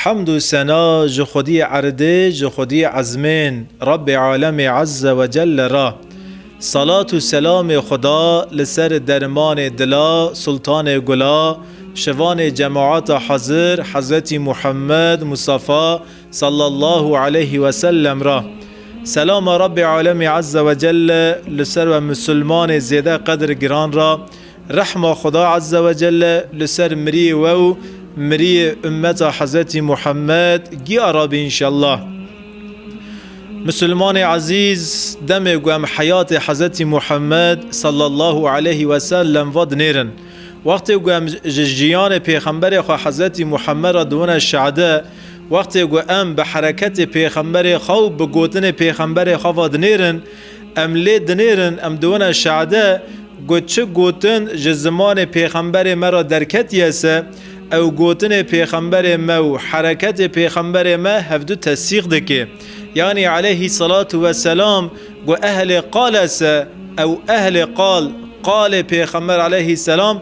Hemd û sena ji Xwedî erdê, ji Xwedî ezmên, Rebbê Alemê Ezze ve Celle re. Selat û selamê Xweda li ser dermanê dila, sultanê gula, şivanê cemaata hezir, Hezretî Muhemmed Mustafa Sallallahu Aleyhi ve Sellem re. Selama Rebbê Alemê Ezze ve Celle li ser we misilmanê zêde qedir giran re, Rehma Xweda Ezze ve Celle li ser miriyê we û miriyê ummeta Hezretî Muhammed giya re be înşellah. Misilmanê ezîz demê ku em heyatê Hezretî Muhammed sallallahu aleyhi ve sellem ve dinêrin. Wextê ku em ji jiyanê Pêxemberê xwe Hezretî Muhammed re diwine şade, wextê ku em bi hereketê Pêxemberê xwe û bi gotinê Pêxemberê xwe ve dinêrin, Em lê dinêrin, em diwine şade ku çi gotin ji zimanê pêxemberê me re derketiye se, ew gotinê pêxemberê me û hereketê pêxemberê me hevdu tesîq dike. Yanî eleyhî selatu ve selam ku ehlê qal e se, ew ehlê qal, qalê pêxember eleyhî selam,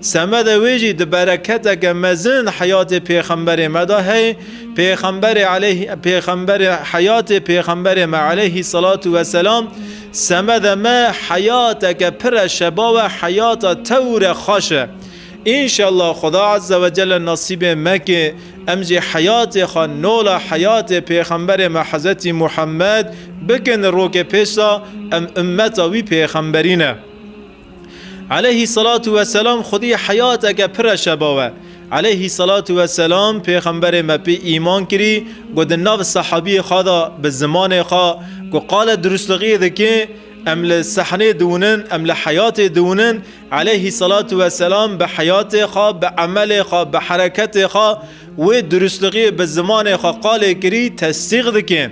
Semedê wê jî di bereketeke mezin li heyatê pêxemberê me de heye, pêxemberê aleyh pêxemberê heyatê pêxemberê me aleyhî selatû weselam semede me heyateke pir e şeba we heyata tewr e xweş e. Înşellah Xuda Azze ve Celle nasîbê meke em jî heyatê xwe nola heyatê pêxemberê me Hezetî Muhammed bikin rokê pêş de em ummeta wî pêxemberî ne. Eleyhî selatu weselam xwedî heyateke pir e şeba we. Eleyhî selatu weselam pêxemberê me pê îman kirî ku di nav sehabiyê xwe de bi zimanê xwe ku qale durustlixiyê dike em li sehnê diwinin em li heyatê diwinin eleyhî selatu weselam bi heyatê xwe bi emelê xwe bi hereketê xwe Wê durustliqî bi zimanê xwe qalê kirî tesdîq dike.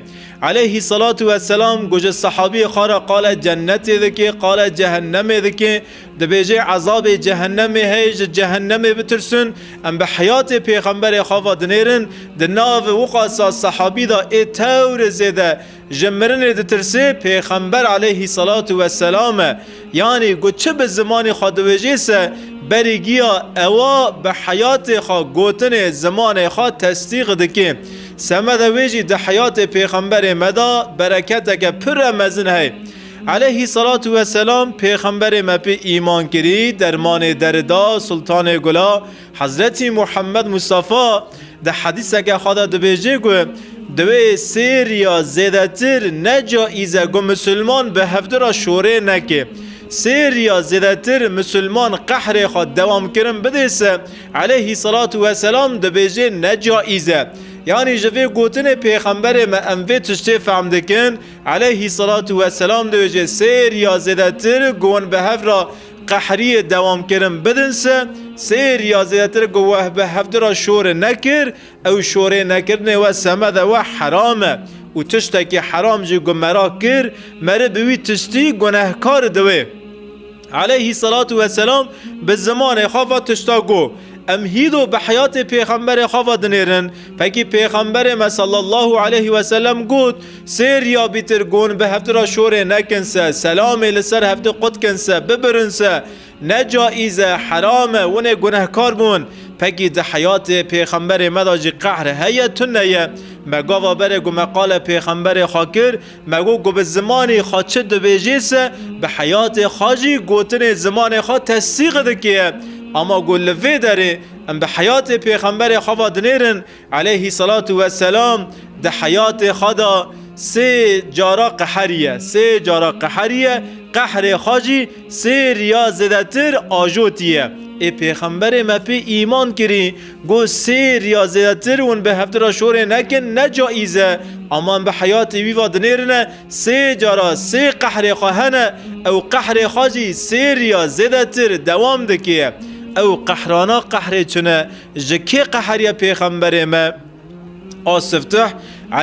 Eleyhî selatû we selam goje sehabîyê xwe re qale cennetê dike, qale cehennemê dike, dibêje ezabê cehennemê heye ji cehennemê bitirsin, em bi heyatê pêxemberê xwe ve dinêrin, di nav wiqasa sehabî de ê tewr zêde Ji mirinê ditirsê, pêxember aleyhî selatu we selam e. Yanî ku çi bi zimanê xwe diwêjê se, berî giya ewa bi heyatê xwe gotinê zimanê xwe tesdîq dike. Semeda wê jî di heyatê pêxemberê me de bereketeke pir re mezin heye. Aleyhî selatu we selam pêxemberê me pê îman kirî, dermanê deri da, sultanê gula, Hezretî Muhemmed Mustafa di hedîseke xwe de dibêje ku di wê sêr ya zêdetir ne caiz e ku misilman bi hevdî re şorê neke. Sêr ya zêdetir misilman qehrê xwe dewamkirin bidê se eleyhî selatû weselam dibêje ne caiz e. Yanî ji vê gotinê pêxemberê me em vê tiştê fehm dikin eleyhî selatû weselam dibêje sêr ya zêdetir ku hûn bi hev re Qehriyê dewamkirin bidin se, sêr ya zêdetir ku weh bi hevdi ra şorê nekir, ew şorê nekirinê we semede we heram e û tiştekî heram jî ku me ra kir, meri bi wî tiştî gunehkar diwê. Eleyhî selatû ve selam bi zimanê xwe va tişta got. Em hîdo bi heyatê pêxemberê xwe va dinêrin. Fekî pêxemberê me sallallahu eleyhî weselem got, Sê riya bîtir gon bi hevti ra şorê nekin se, selamê li ser hevti qut kin se, bibirin se. Ne caîz e, heram e, winê gunehkar bûn. Pekî di heyatê pêxemberê me da jî qehr heye tune ye. Me gava berê ku me qale pêxemberê xwe kir, me got ku bi zimanê xwe çi dibêjê se, bi heyatê xwe jî gotinê zimanê xwe tesdîq dike. Ama ku li vê derê em bi heyatê pêxemberê xwe va dinêrin, Eleyhî selatu weselam di heyatê xwe de sê cara qeheriye, sê cara qeheriye, qehrê xwe jî sê riya zêdetir ajotiye. Ê pêxemberê me pê îman kirî, got sê riya zêdetir hûn bi hevdira şorê nekin ne caîz e. Ama em bi heyatê wî ve dinêrine sê cara sê qehrê xwe hene, ew qehrê xwe jî sê riya zêdetir dewam dike. Ew qehrana qehrê çin e. Ji kê qeheriye pêxemberê me? A siftih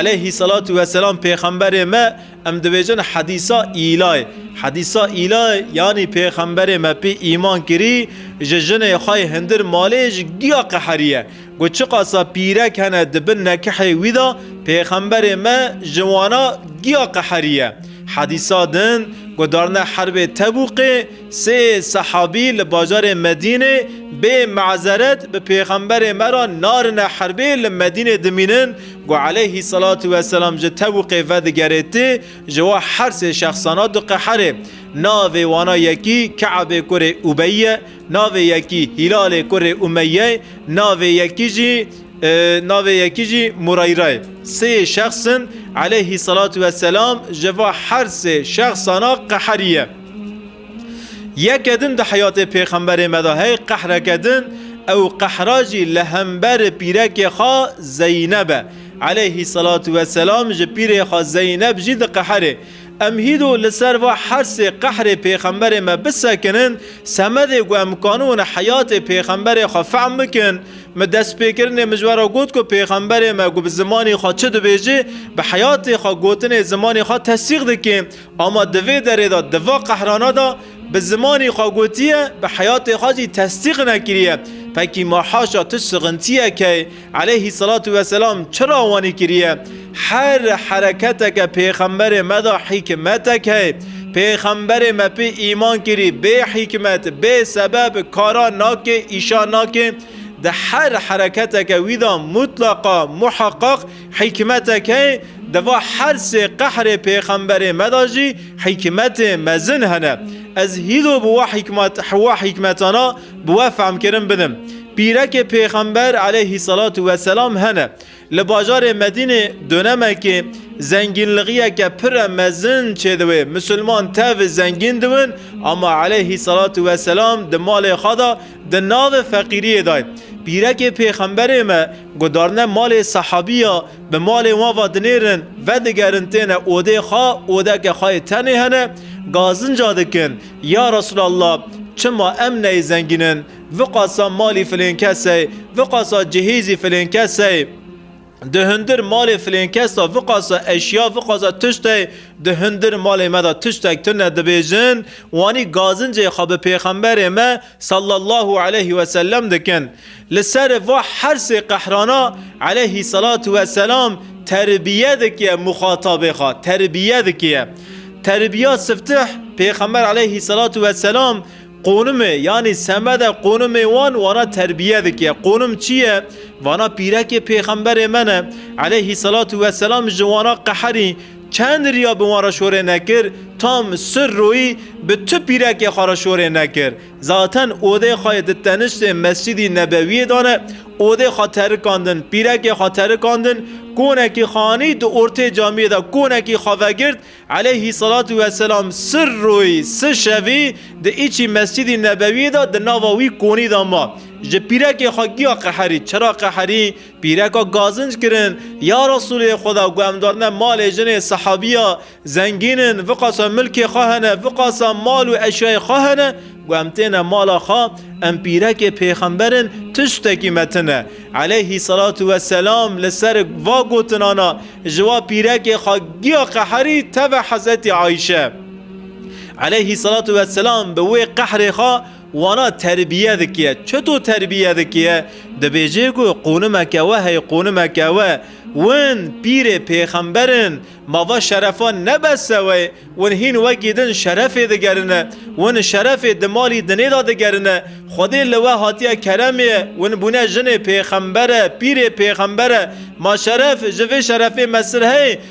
eleyhî selatu weselam pêxemberê me em dibêjin hedîsa îlayê. Hedîsa îlayê yanî pêxemberê me pê îman kirî ji jinê xwe yê hindir malê ji giya qeheriye. Got çiqasa pîrek hene di bin nekihê wî de pêxemberê me ji wana giya qeheriye. Hedîsa din guhdarine herbê Tebûkê, Sê sehabî li bajarê Medînê bê mazeret bi pêxemberê me re narine herbê li Medînê dimînin ku eleyhî selatû we selam ji Tebûkê vedigerê ti ji we her sê şexsana diqeherê. Navê wana yekî Keabê kurê Ubeyî ye, navê yekî Hîlalê kurê Umeyye ye, navê yekî jî navê yekî jî Mureyre ye. Sê şexs in eleyhî selatû we selam ji va her sê şexsana qeheriye. Yeke din di heyatê Pêxemberê me de heye qehreke din, ew qehra jî li hember pîrekê xwe Zeyneb e. Eleyhî selatû ve selam ji pîrê xwe Zeyneb jî diqeherê. Em hîdo li ser va hersê qehrê Pêxemberê me bisekinin, semedê ku em kanûn heyatê Pêxemberê xwe fehm bikin. Min destpêkirinê min ji we re got ku Pêxemberê me ku bi zimanê xwe çi dibêje, bi heyatê xwe gotinê zimanê xwe tesîq dike. Ama di vê derê de, di va qehrana de bi zimanê xwe gotiye, bi heyatê xwe jî tesdîq nekiriye. Pekî ma haşa tu şixintiyeke yî, eleyhî selatû weselam çira wanî kiriye? Her hereketeke pêxemberê me de hîkmetek heye. Pêxemberê me pê îman kirî, bê hîkmet, bê sebeb kara nake, îşa nake. Di her hereketeke wî de mutleqa, muheqeq, Hîkmeteke di va her sê qehrê pêxemberê me de jî hîkmetê mezin hene. Ez hîlo bi wa hîkmetana bi we fehmkirin bidim. Pîrekê pêxember eleyhî selatu we selam hene. Li bajarê Medînê donemekê zengînlixiyeke pire mezin çêdiwê. Misilman tevî zengîn diwin ama eleyhî selatu we selam di malê xwe de di navê feqîriyê dayê. Pîrekê pêxemberê me Gudarine malê sehabî ya, bi malên wan ve dinêrin, vedigerin têne odê xwe, odeke xwe yê tenê hene, gazinca dikin, Ya Resûlallah, çima em neyê zengînin, viqasa malî filên kes ey, viqasa cihêzî filên kes ey, di hundir malê filên kes de viqasa eşya, viqasa tişt ey, di hundir malê me de tiştek tune dibêjin, wanî gazincê xwe bi pêxemberê me, Sallallahu aleyhi ve sellem dikin. Li ser va hersê qehrana aleyhi salatu ve selam terbiye dikiye muxatabê xwe, terbiye dikiye. Terbiya siftih Pêxember aleyhi salatu ve selam qonimê yanî semede qonimê wan wana terbiye dikiye. Qonim çi ye? Vana pîrekê pêxemberê me ne aleyhi salatu ve selam ji wana qeherî Çend riya bi wan re şorê nekir, tam sir royî bi tu pîrekê xwe re şorê nekir. Zaten odê xwe yê di teniştê Mescidî Nebewiyê de ne, odê xwe terikandin, pîrekê xwe terikandin, konekî xanî di ortê camiyê de konekî xwe vegirt, Eleyhî Selatu ve Selam sir royî si şevî di îçî Mescidî Nebewiyê de di nava wî konî de ma. Ji pîrekê xwe giya qeherî, çira qeherî? Pîreka gazinc kirin, Ya Resûlê Xweda ku em darine malê jinê sehabîya zengîn in, viqasa milkê xwe hene, viqasa mal û eşyayê xwe hene, ku em têne mala xwe, em pîrekê pêxember in, tiştekî me tine. Eleyhî selatû we selam li ser va gotinana ji wa pîrekê xwe giya qeherî teve Hezretî Ayşe. Eleyhî selatû we selam bi wê qehrê xwe Wana terbiye dikiye. Çeto terbiye dikiye? Dibêjê ku qûnimeke we hey qûnimeke we. Win pîrê pêxember in. Mava şerefa ne bes seweyê. Win hîn wekî din şerefê digerine. Win şerefê di malî dinê de digerine. Xwedê li we hatiye keremê. Win bûne jinê pêxembere, pîrê pêxembere. Ma şeref ji vê şerefê mesir heye?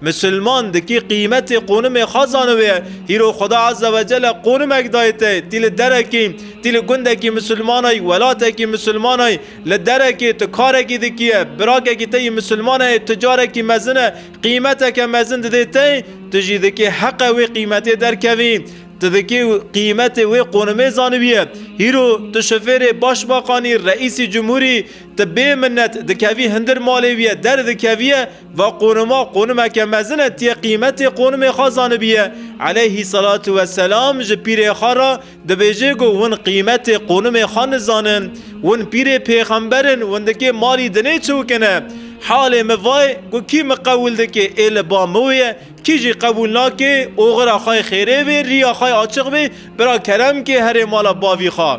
Misilman dikî qîmetê qûnimê xwe zanibiye. Hîro Xweda Eze ve Cele qûnimek daye te. Tî li derekî, tî li gundekî misilmanayî, welatekî misilmanayî, li derekê tu karekî dikiye, birakekî te yî misilman heye, tu carekî mezin e, qîmeteke mezin didê te, tu jî dikê heqe wê qîmetê derkevî. Tu dikê qîmetê wê qûnimê zanibiye. Hîro tu şofêrê başmaxanî, reîsî cumhurî, tu bê minnet dikevî hindir malê wî ye, derdikeviye, Va qûnima qûnimeke mezin e tiyê qîmetê qûnimê xwe zanibiye. Eleyhî selatu ve selam ji pîrê xwe re dibêje ku hûn qîmetê qûnimê xwe nizanin. Hûn pîrê pêxember in, hûn dikê malî dinê çewkine. Halê min va ye ku kî min qebûl dike ê li ba min wê ye, kî jî qebûl nake oxira xwe yê xêrê bê, rîya xwe yê açiq bê, bira kerem ke here mala bavî xwe.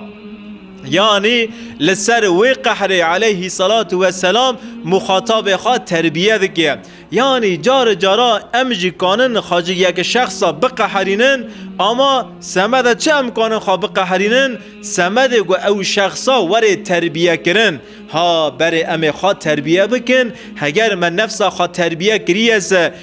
Yanî li ser wê qehrê eleyhî selatû weselam muxatabê xwe terbiye dike. Yanî cari cara em jî kanin xwe ji yek şexsa biqeherînin, ama semeda çi em kanin xwe biqeherînin? Semedê ku ew şexsa were terbiyekirin. Ha berê em ê xwe terbiye bikin, heger me nefsa xwe terbiye kiriye se,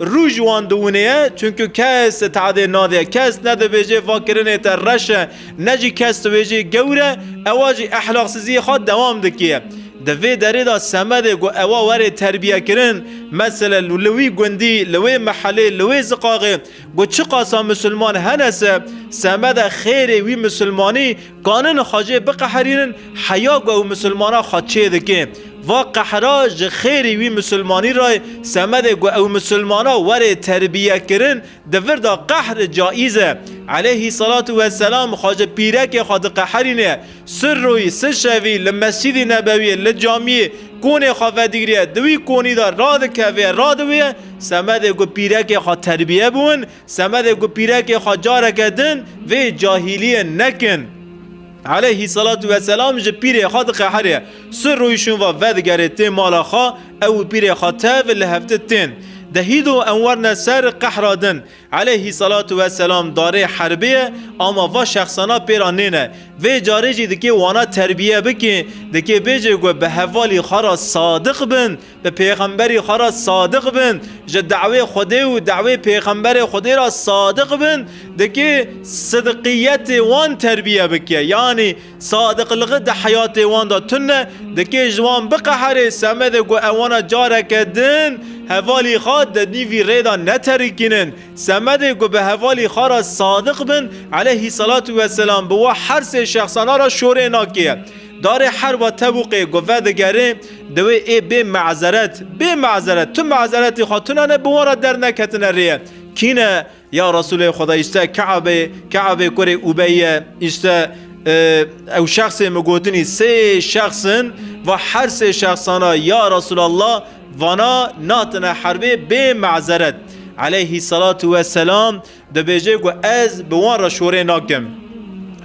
Rû ji wan diwinê ye, çunku kes teadê nade, kes nedibêje va kirinê te reş e, ne jî kes dibêje gewr e, ewa jî ehlaksiziyê xwe dewam dike. Di vê derê de semedê ku ewa were terbiyekirin, meselen li wî gundî, li wê mehelê, li wê ziqaxê ku çiqasa misilman hene se, semede xêrê wî misilmanî, Kanên xwe jê biqeherînin, heya ku ew misilmana xwe çêdike. Va qehera ji xêrî wî misilmanî re ye, semedê ku ew misilmana were terbiyekirin, di vir de qehr caîz e. Eleyhî selatû we selam xwe ji pîrekê xwe diqeherîne, sir royî, sir şevî li Mescîdî Nebewîyê, li camîyê, konê xwe vedigiriye, di wî konî de radikeve, radiwêye, semedê ku pîrekê xwe terbiye biwin, Semedê ku pîrekê xwe careke din vê cahîliyê nekin. Eleyhî selatû ve selam ji pîrê xwe diqehirê. Sir rûyişûn va vedigerê tê mala xwe, ew û pîrê xwe tev li hevti tên. Dehî do em werne ser qehra din. Eleyhî selatû ve selam darê herbê ye ama va şexsana pêra nêne. Vê carê jî dikê wana terbiye bikê, dikê bêjê ku bi hevalî xwe re sadiq bin, Bi pêxemberî xwe re sadiq bin, ji dawê Xwedê û dawê pêxemberê Xwedê re sadiq bin, dikê sidqiyetê wan terbiye bike, yanî sadiqligi di heyatê wan de tune, dikê ji wan biqeherê semedê ku ew wana careke din hevalî xwe di nîvî rê de neterikînin. Semedê ku bi hevalî xwe re sadiq bin, eleyhî selatû weselam bi we her sê şexsana re şorê nakê. Darê herwa tevûqê ku vedigerê diwê ê bê mazeret, bê mazeret, tu mazeretê xwe tune ne bi wan re derneketine rê ye. Kî ne? Ya Resûlê Xwedayî îşte Keabê, Keabê kurê Ubeyî ye, îşte ew şexsê min gotinî sê şexs in, va her sê şexsana ya Resûlallah vana natine herbê bê mazeret. Eleyhî selatû weselam. Dibêje ku ez bi wan re şorê nakim.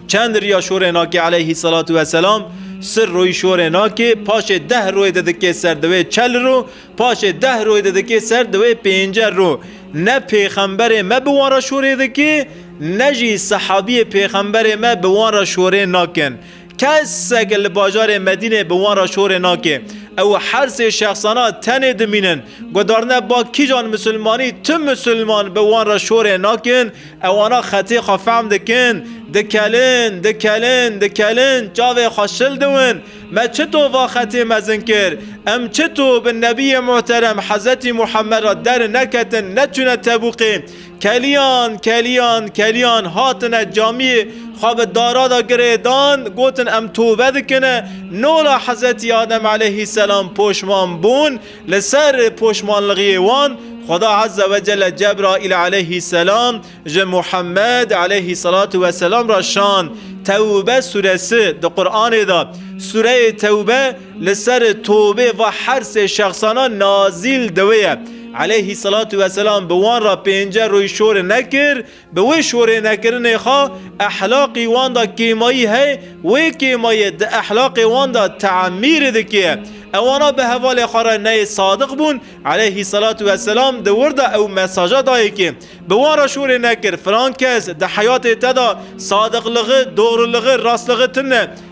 Çend riya şorê nakê eleyhî selatu weselam, sir royî şorê nakê, paşê deh royê de dikê ser di wê çel ro, paşê deh royê de dikê ser di wê pêncel ro. Ne pêxemberê me bi wan re şorê dike, ne jî sehabiyê pêxemberê me bi wan re şorê nakin. Kesek li bajarê Medînê bi wan re şorê nake. Ew her sê şexsana tenê dimînin. Guhdarine ba kîjan misilmanî tu misilman bi wan re şorê nakin, ew ana xetê xwe fehm dikin, dikelin, dikelin, dikelin, çavê xwe şil diwin, me çito va xetê mezin kir, em çito bi Nebiyê Muhterem Hezetî Muhammed re der neketin, neçûne Tebûkê, Keliyan, keliyan, keliyan hatine camiyê xwe bi dara de girê dan, gotin em tobe dikin e, nola Hezretî Adem eleyhî selam poşman bûn, li ser poşmanlixiyê wan Xweda Ezze ve Celle Cebraîl eleyhî selam ji Muhammed eleyhî selatû ve selam re şand, Tewbe suresi, di Quranê de sureyê Tewbe, Li ser tovê va her sê şexsana nazîl di wê ye. Eleyhî selatû weselam bi wan re pênce roy şorê nekir, bi wê şorê nekirinê xwe ehlaqî wan da kêmayî heye, wê kêmayê di ehlaqê wan da teemîrê dikeye. Ewana bi hevalê xwe re neyê sadiq bûn, eleyhî selatû weselam di wir de ew mesaja daye kê, Bi wan re şorê nekir, filan kes di heyatê te da sadiqligi, dogriligi, rastligi tune,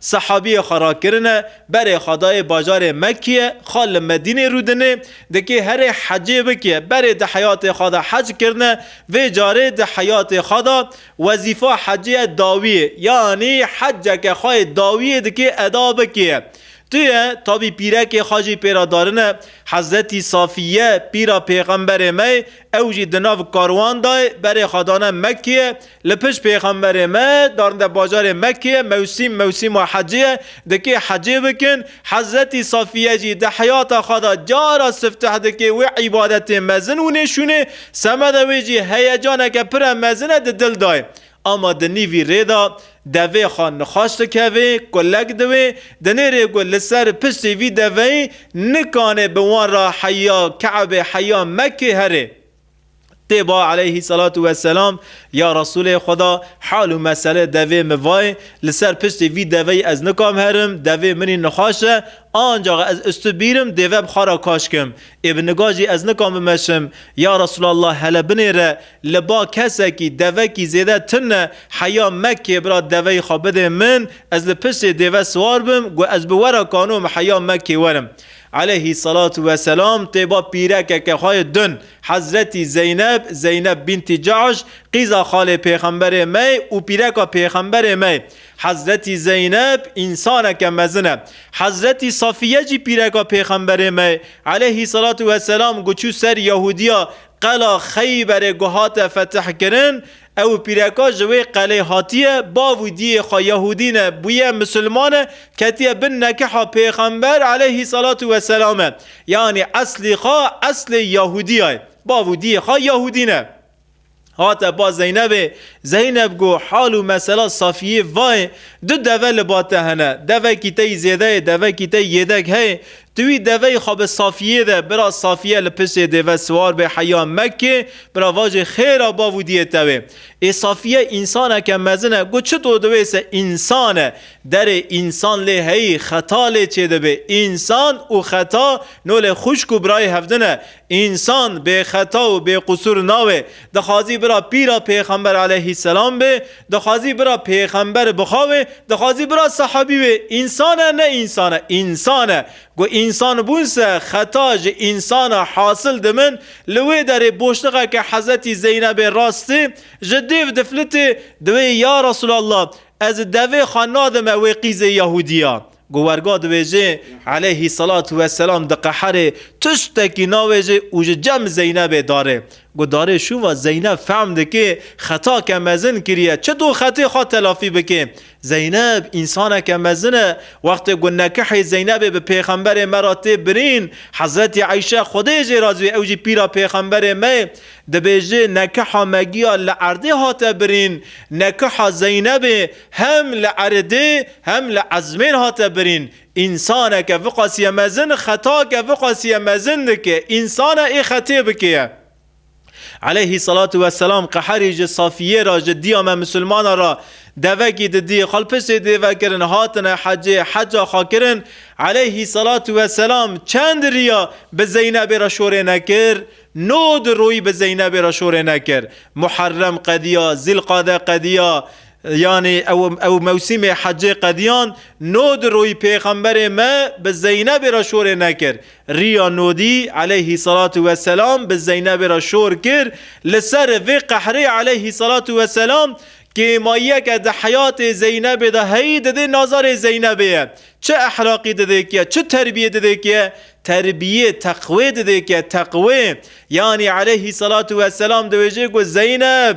Sehabiyê xwe rakirine, berê xwe dayê bajarê Mekkîye, xwe li Medînê rûdinê, dikê herê hecê bike, berê di heyatê xwe de hec kirine, vê carê di heyatê xwe de wezîfa hecê dawiyê, yanî heceke xwe yê dawiyê dikê eda bikê. Tuye tabî pîrekê xwe jî pê re darine, Hezretî Safîye, pîra pêxemberê me, Ew jî di nav karwan de berê xwe dane Mekkeyê. Li pişt pêxemberê me darinde bajarê Mekkeyê. Mewsîm mewsîma hecê ye. Di kê hecê bikin? Hezretî Safiye jî di heyata xwe de cara sifteh dike wê îbadetê mezin û nêşûnê. Semeda wê jî heyecaneke pire mezin e di dil de ye. Ama di nîvî rê de devê xwe nixweş dikeve ku lek diwê, dinê rê ku li ser piştê vî deveyê nikanê bi wan re heya Ke'ebê heya Mekkê here. Tê ba Eleyhî Selatu we Selam, Ya Resûlê Xweda, hal û mesele devê min va ye, li ser piştê vî deveyê ez nikom herim, devê minî nixweş e, ancax ez ustu bîrim dêve bi xwe re kaşkim. Ê bi niga jî ez nikom bimeşim. Ya Resûlallah hele binêre, Li ba kesekî devekî zêde tim ne, heya meke bira deveyê xwe bidê min, ez li piştê dêve siwar bim, got ez bi we re kanom heya mekê werim. Eleyhî selatû we selam tê ba pîrekeke xwe yê dun, Hezretî Zeyneb, Zeyneb bintî Cahş, qîza xalê pêxemberê me yê û pîreka pêxemberê me yê. Hezretî Zeyneb însaneke mezin e. Hezretî Safîye jî pîreka pêxemberê me yê. Eleyhî selatû we selam got çû ser Yahûdiya Qela Xeyberê ku hate fetihkirin, ew pîreka ji wê qelê hatiye, bav û diyê xwe Yahûdî ne, bûye misilman e, ketiye bin nekiha Pêxember eleyhî selatû weselam e. Yanî eslî xwe eslê Yahûdiya ye. Bav û diyê xwe Yahûdî ne. Hate ba Zeynebê, Zeyneb got, Hal û mesela Safiyê va ye, du deve li ba te hene, devekî te yî zêde ye, devekî te yî yêdek heye, Di wî deveyî xwe bi Safiyê de bira Safiye li piştê dêve siwar bê heya Mekkê bira vajê xêra bav û diyê tewê. Ê Safiye însaneke mezin e got çito di wê se însan e. Derê însan lê heyî xeta lê çêdibê. Însan û xeta no lê xwişk û birayê hevdin e. Însan bêxeta û bêqusûr nabe. Dixwazî bira pîra pêxember aleyhîsselam be, dixwazî bira pêxember bixawe, dixwazî bira sehabî be. Însan e ne însan e, însan e. Ku însan bûn se xeta ji însana hasil dibin. Li wê derê boşluxeke Hezretî Zeynebê rastê, ji dêv diflitê, diwê ya Resûlallah ez devê xwe nadime wê qîzê Yahûdî ya. Ku werga dibêjê Eleyhî selatû weselam diqeherê, tiştekî navêjê û ji cem Zeynebê darê. Ku darê şûva Zeyneb fehm dikê xetake mezin kiriye, çito xetê xwe telafî bikê. Zeyneb însaneke mezin e. Wextê ku nekehê Zeynebê bi pêxemberê me re tê birîn, Hezretî Eyşe Xwedê jê razî be ew jî pîra pêxemberê me ye, dibêjê nekeha me giya li erdê hate birîn, nekeha Zeynebê, Hem li eredê hem li ezmên hate birîn. Însaneke viqasîye mezin xetake viqasîye mezin dike, însane ê xetê bikêye. Eleyhî selatû we selam qeherî ji Safîyê re ji dîya me misilmana re devekî di dî xalpisê dê vekirin hatine hecê heca xwe kirin eleyhî selatû we selam çend rîya bi Zeynebê re şorê nekir? No di royî bi Zeynebê re şorê nekir. Muherrem qedîya, Zîlqade qedîya, Yanî ew ew mewsîmê hecê qediyan nod rûyî pêxemberê me bi Zeynebê re şorê nekir. Rîya nodî eleyhîsselatu weselam bi Zeynebê re şor kir. Li ser vê qehrê eleyhîsselatu weselam kêmayiyeke di heyatê Zeynebê de heyî didê nazarê Zeynebê ye. Çi ehlaqî didê ki ye, çi terbiyê didê ki ye? Terbiyê teqwê didê ki ye, teqwê. Yanî eleyhîsselatu weselam diwêjê ku Zeyneb!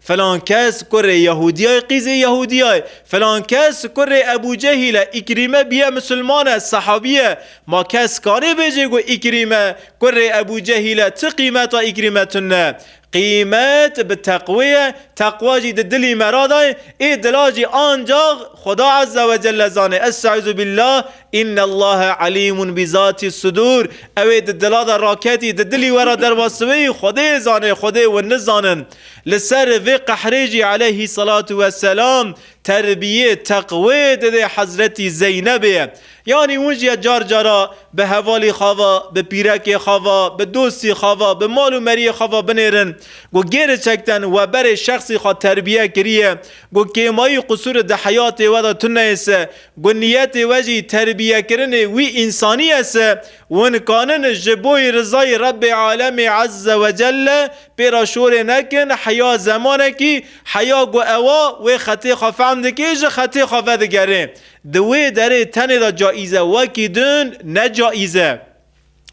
Filan kes kurê Yehûdiyay qîzê Yehûdiyay, filan kes kurê Ebû Cehîl e, Îkrîme bîye misilman e, sehabî ye. Ma kes kanê bêje ku Îkrîme kurê Ebû Cehîl e, çi qîmeta Îkrîme tune? Qîmet bi teqwê ye, teqwa jî di dilî me ra daye, ê dila jî ancax Xweda Ezzewecelle zanê. Estaizu billah. Înnellâhe alîmun bi zatîs sudûr, Ew ê di dila de raketî, di dilî we re derba siwê yî, Xwedê zanê, Xwedê wi nizanin. Li ser vê qehrê jî eleyhîsselatu wesselam terbiyê, teqwê didê Hezretî Zeynebê. Yanî hûn jî car cara bi hevalî xwe ve, bi pîrekê xwe ve, bi dostî xwe ve, bi mal û meriyê xwe ve binêrin ku gêriçekten we berê şexsî xwe terbiye kiriye ku kêmayî qusûri di heyatê we de tune ye se Ku niyetê we jî terbiyekirinê wî însanî ese, wi nikanin ji bo yê rizayê Rebbê Alemê Ezze ve Celle pê re şorê nekin, heya zemanekî, heya ku ewa wê xetê xwe fehm dike ji xetê xwe vedigerê. Di wê derê tenê de caîz e wekî din ne caîz e.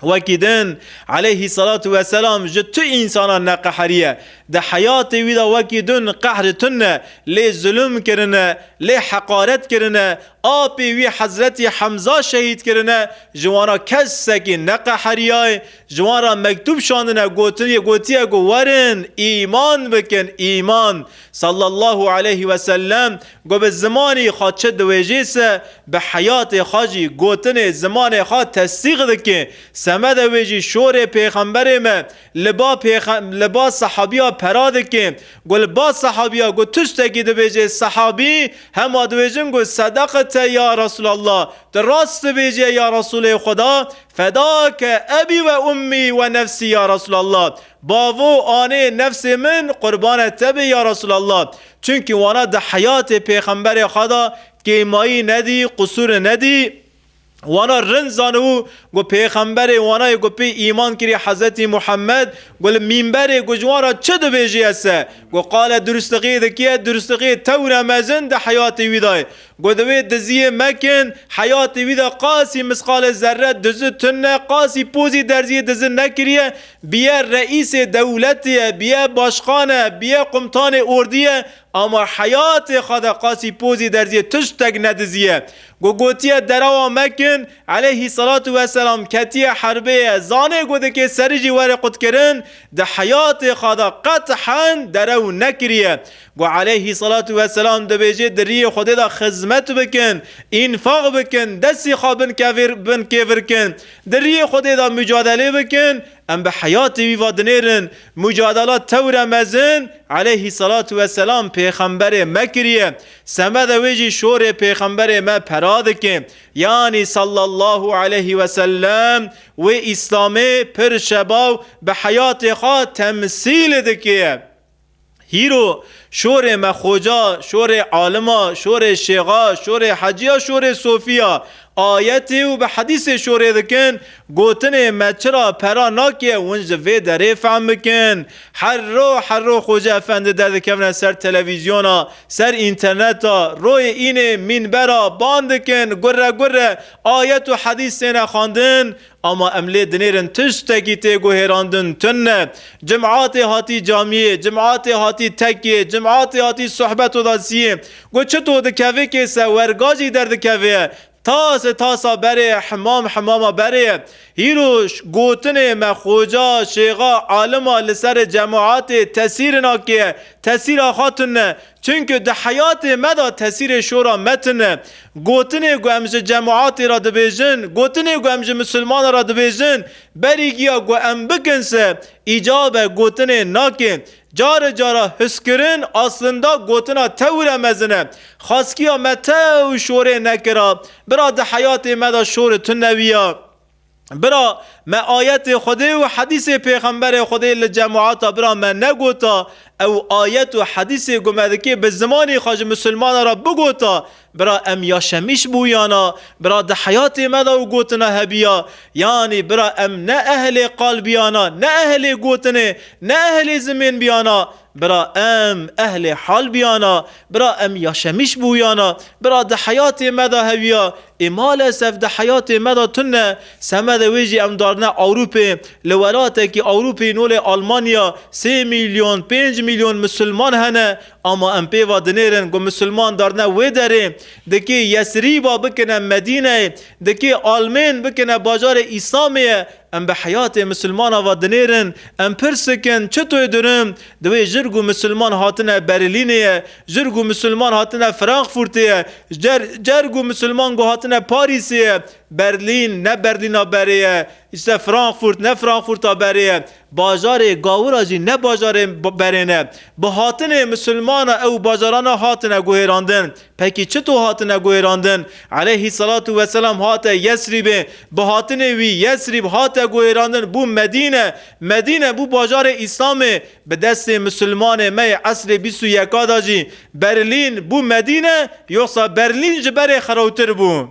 Wekî din aleyhî selatu weselam ji tu însanan neqeheriye. Di heyatê wî de wekî din qehri tune, lê zulm kirine, lê heqaret kirine, apê wî Hezretî Hemza şehîd kirine, ji wan re kesekî neqeheriyaye, ji wan re mektûb şandine gotiye ku werin îman bikin, îman. Sallallahu aleyhî weselem. Ku bi zimanî xwe çi diwêjî se, bi heyatê xwe jî gotinê zimanê xwe tesdîq dike. Semede wê jî şorê pêxemberê me li ba li ba sehabiya pera dike. Ku li ba sehabiya ku tiştekî dibêje sehabî, hema dibêjin ku sedaqte ya Resûlallah, tu rast dibêje ya Resûlê Xweda, fedake ebî ve ummî ve nefsî ya Resûlallah, bavo anê nefsê min qurbane te be ya Resûlallah, Çimkî wana di heyatê pêxemberê xwe de kêmayî nedî, qusûrê nedî, wana rind zanibû ku pêxemberê wana yê ku pê îman kirî Hezretî Muhammed ku li mîmberê ku ji wan re çi dibêjî ese ku qale duristixî dikiye, duristixî tewr e mezin di heyatê wî de ye. Got di wê diziyê mekin, heyatê wî de qasî misqalê zerre dizi tune, qasî pozî derziyê dizi nekiriye, biye reîsê dewletê ye, biye başxan e, biye qumtanê ordî ye, ama heyatê xwe de qasî pozî derziyê tiştek nediziye. Got gotiye derawa mekin, eleyhî selatu weselam ketiye herbêye, zanê got dikê serî jî were qutkirin, di heyatê xwe de qet hend derew nekiriye. Ku aleyhî selatû weselam dibêje di riyê Xwedê de xizmet bikin, înfaq bikin, destê xwe bin kevêr bin kêvir kin, di riyê Xwedê de mucadelê bikin, em bi heyatê wî ve dinêrin. Mucadela tewre mezin aleyhî selatû weselam pêxemberê me kiriye. Semede wê jî şorê pêxemberê me pera dike. Yanî sallallahu aleyhî weselem wê îslamê pir şebaw bi heyatê xwe temsîl dike. Hîro, şorê me xoca, şorê alima, şorê şêxa, şorê hecîya, şorê sofîya, ayetê û bi hedîsê şorê dikin, gotinê me çira pera nake win ji vê derê fehm bikin. Herro herro Xoca Efendi derdikevne ser televîzyona, ser înterneta, royê înê mînbera, ban dikin, gurre gurre ayet û hedîs têne xwendin, Ama em lê dinêrin tiştekî tê guhêrandin tune. Cim'atê hatî camiyê, cim'atê hatî tekiyê, cim'atê hatî suhbeto da siyê. Got çito dikevê kêse, werga jî derdikevê. Tase tasa berê, himam himama berê. Hîro gotinê me xoca, şêxa, alima li serê cem'atê tesîrin akê. Tesîra xwe tune. Çimkî di heyatê me de tesîrê şora me tune. Gotinê ku em ji cemaatê re dibêjin, gotinê ku em ji misilmane re dibêjin, berî giya ku em bikin se, îcab e gotinê nake. Cari cara huskirin aslinda gotina tewire mezin e. Xaskiya me tew şorê nekira. Bira di heyatê me de şori tune wiya. Bira me ayetê Xwedê û hedîsê Pêxemberê Xwedê li cemata bira me negota, ew ayet û hedîsê ku me dikê bi zimanê xwe ji misilmanan re bigota, bira em ya şemîş bûyana, bira di heyatê me de û gotina hebîya, yanî bira em ne ehlê qal bîyana, ne ehlê gotinê, ne ehlê zimên bîyana, bira em ehlê hal bîyana, bira em ya şemîş bûyana, bira di heyatê me de hewîya, Ê malesef di heyatê me de tune, semedê wê jî em darine Ewrûpê. Li welatekî Ewrûpî nolê Almanya sê mîlyon, pênc mîlyon misilman hene, ama em pê va dinêrin ku misilman darine wê derê. Dikê Yesrîba bikine Medîneyê, dikê Almên bikine bajarê Îslamê ye, em bi heyatê misilmana va dinêrin. Em pirsikin çi tê dirin? Di wê jirg û misilman hatine Berîlînê ye, Jerg û Musulman hatine Frankfurtê, Jerg û Musulman got hatine Parîsê, Berlîn, ne Berlîna berê ye, îşte Frankfurt, ne Frankfurta berê ye, bajarê Gawura jî ne bajarê berê ne. Bi hatinê Musulmana ew bajarana hatine guhêrandin. Pekî çito hatine guhêrandin? Eleyhî selatû weselam hate Yesrîbê, bi hatinê wî Yesrîb hate guhêrandin bû Medîne, Medîne bû bajarê Îslamê, Bi destê misilmanê me yê esrê bîst û yeka de jî Berlîn bû Medîne, yoxsa Berlîn ji berê xirowtir bû?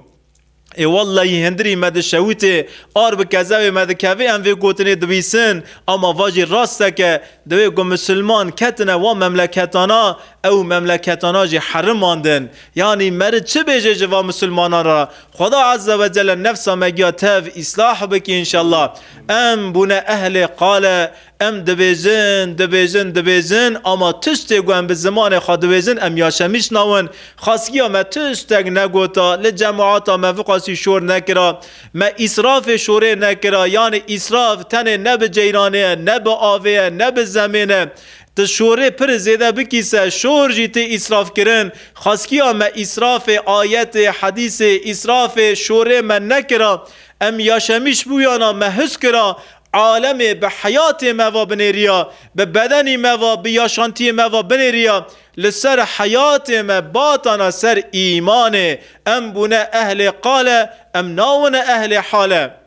Ê wellehî hindirî me di şewitê ar bi kezewê me dikevê em vê gotinê dibîsin, ama va jî rastek e, divê ku misilman ketine wan memleketana ew memleketana jî herimandin. Yanî meric çi bêje ji van misilmanan re? Xweda Azze ve Celle nefsa me giya tev îslah bike înşellah. Em bûne ehlê qale, Em dibêjin, dibêjin, dibêjin ama tiştê ku em bi zimanê xwe dibêjin em yaşemîş nawin. Xasgiya me tiştek negota, li cemaata me viqasî şor nekira. Me îsrafê şorê nekira, yanî îsraf tenê ne bi ceyranê ye, ne bi avê ye, ne bi zemên e. Tu şorê pir zêde bikî se, şor jî tê îsrafkirin. Xasgiya me îsrafê ayetê, hedîsê, îsrafê şorê me nekira. Em yaşemîş bûyana me his kira Alemê bi heyatê me ve binêriya, bi bedenî me ve, bi yaşantiyê me ve binêriya. Li ser heyatê me batana ser îmanê. Em bûne ehlê qale, em nawine ehlê hale.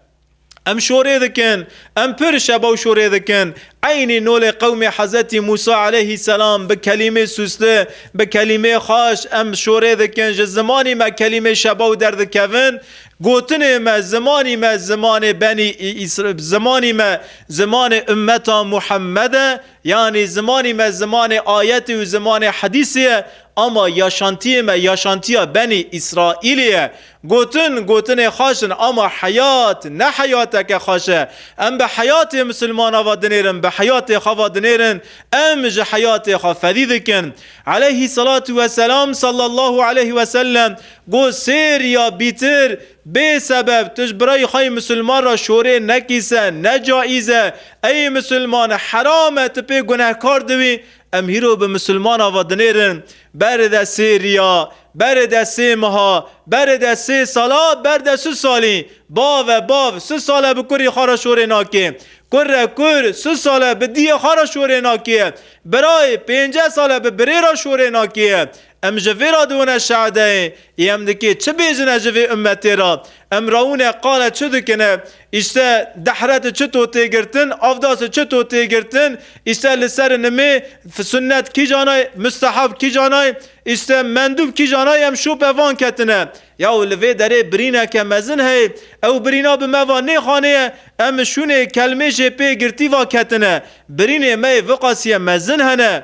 Em şorê dikin, em pir şebaw şorê dikin. Eynî nolê qewmê Hezetî Mûsa eleyhî selam bi kelîmê sûsli, bi kelîmê xweş em şorê dikin, ji zimanî me kelîmê şebaw derdikevin. Gotinê me, zimanî me zimanê benî Îsr, zimanî me zimanê ummeta Muhemmed e, yanî zimanî me zimanê ayetê û zimanê hedîsê ye, ama yaşantiyê me yaşantiya benî Îsraîlê ye. Gotin, gotinê xweş in, ama heyat ne heyateke xweş e. Em bi heyatê misilmanan ve dinêrin, bi heyatê xwe ve dinêrin, em ji heyatê xwe fedî dikin. Eleyhî selatû weselam, sallallahu eleyhi wesellem, Ku sêr ya bîtir bê sebeb tu ji birayî xwe yê misilman re şorê nekîse, ne caîz e. Ey misilman, heram e, tu pê gunehkar dibî. Em hîro bi misilman ava dinêrin. Berê de sê riya, berê de sê meha, berê de sê sala, ber de su salî. Bav e, bav, su sal e bi kurî xwe re şorê nakê. Kur e, kur, su sal e bi diyê xwe re şorê nakê. Birayê, pênceh sal e bi birê re şorê nakê. Em ji vê re diwine şehedeyê ê em dikê çi bêjine ji vê ummetê re? Em rewine qale çi dikine? Îşte dehreti çi to tê girtin? Avdasi çi to tê girtin? Îşte li seri nimê sunnet kîjan ay? Mustehab kîjan ay? Îşte mendûb kîjan ay? Em şope van ketine. Ya û li vê derê birîneke mezin heye. Ew birîna bi me va nê xanê ye. Em şûnê kelmê jê pê girtî va ketine. Birînê me yê viqasîye mezin hene.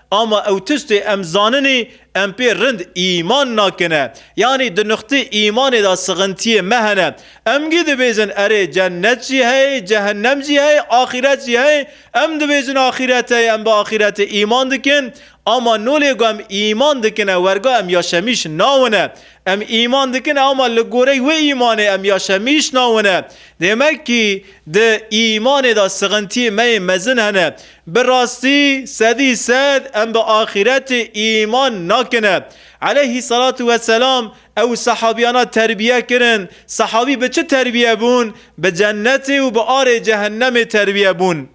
Ama ew tiştê em zaninî em pê rind îman nakine. Yanî di nuqtê îmanê de sixintiyê me hene. Em gî dibêjin erê cennet jî heye, cehennem jî heye, axîret jî heye. Em dibêjin axîret heye, em bi axîretê îman dikin. Ama nolê ku em îman dikine werga em yaşemîş nawine. Em îman dikine ama li gorey wê îmanê em yaşemîş nawine. Dêmek kî di îmanê de sixintiyê me yê mezin hene. Bi rastî sedî sed em bi axîretê îman nakin e. Eleyhî selatû we selam ew sehabîyana terbîye kirin. Sehabî bi çi terbîye bûn? Bi cennetê û bi arê cehennemê terbîye bûn.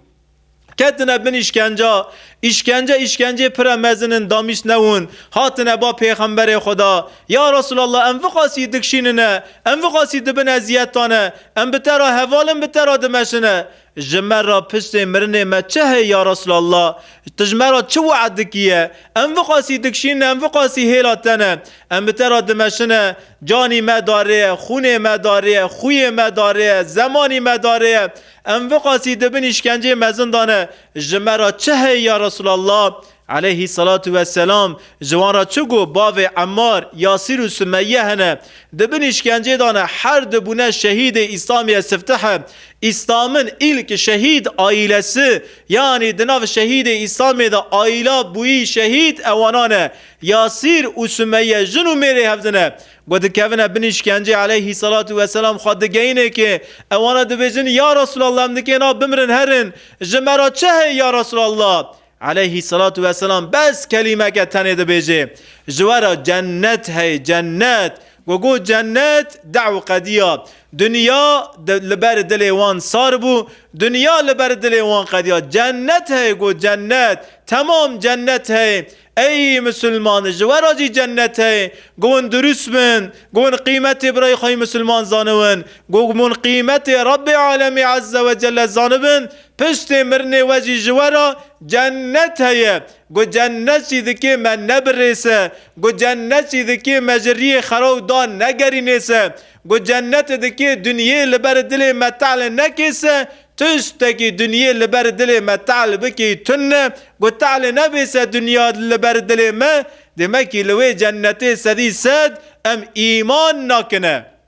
Ketine bin îşkenca. Îşkence îşkencê pire mezin in damîst newin. Hatine ba pêxemberê Xweda, Ya Resûlallah em viqasî dikşînine, em viqasî dibin ezîyetan e, em bi te ra heval in bi te ra dimeşine. Ji me re pirsê mirinê me çi heye ya Resûlallah? Tu ji me re çi wead dikî ye? Em vi qasî dikşînin, em vi qasî hêla te ne. Em bi te re dimeşine, canî me darê ye, xûnê me darê ye, xwiyê me darê ye, zemanî me darê ye. Em vi qasî di bin îşkencê mezin de ne. Ji me re çi heye ya Resûlallah? Eleyhî selatu we selam, ji wan re çi got, bavê Emmar, Yasîr û Sumeyye hene. Di bin îşkencê de ne, her du bûne şehîdê Îslamîye Siftihe. Îslamin îlk şehîd aîlesi, yanî di nav şehîdê Îslamê de aîla bûyî şehîd ewanan e. Yasîr û Sumeyye jin û mêrê hev din e. Ku dikevine bin îşkencê Eleyhî selatu we selam xwe digeyîne kê, ewana dibêjin, Ya Resûlallah em nikêna bimirin herin, ji me re çi heye ya Resûlallah? Eleyhî selatu weselam bes kelîmeke tenê dibêje, ji we re cennet heye, cennet. Ku got cennet, dew qediya. Dinya li ber dilê wan sar bû, dinya li ber dilê wan qediya. Cennet heye got cennet, temam cennet heye. Ey misilman, ji we re jî cennet heye. Ku hûn dirûst bin, ku hûn qîmetê birayê xwe yê misilman zaniwin, ku hûn qîmetê Rebbê Alemî Ezze Wecelle zanibin, Piştê mirinê we jî ji we re cennet heye. Got cennet jî dikê me nebirê se. Got cennet jî dikê me ji riyê xera û dan negerînê se. Got cenneti dikê dinyê li ber dilê me te'le nekê se. Tiştekî dinyê li ber dilê me te'l bikê tun e. Got te'lê nebê se dinya li ber dilê me, demekî li wê cennetê sedî sed em îman nakin e.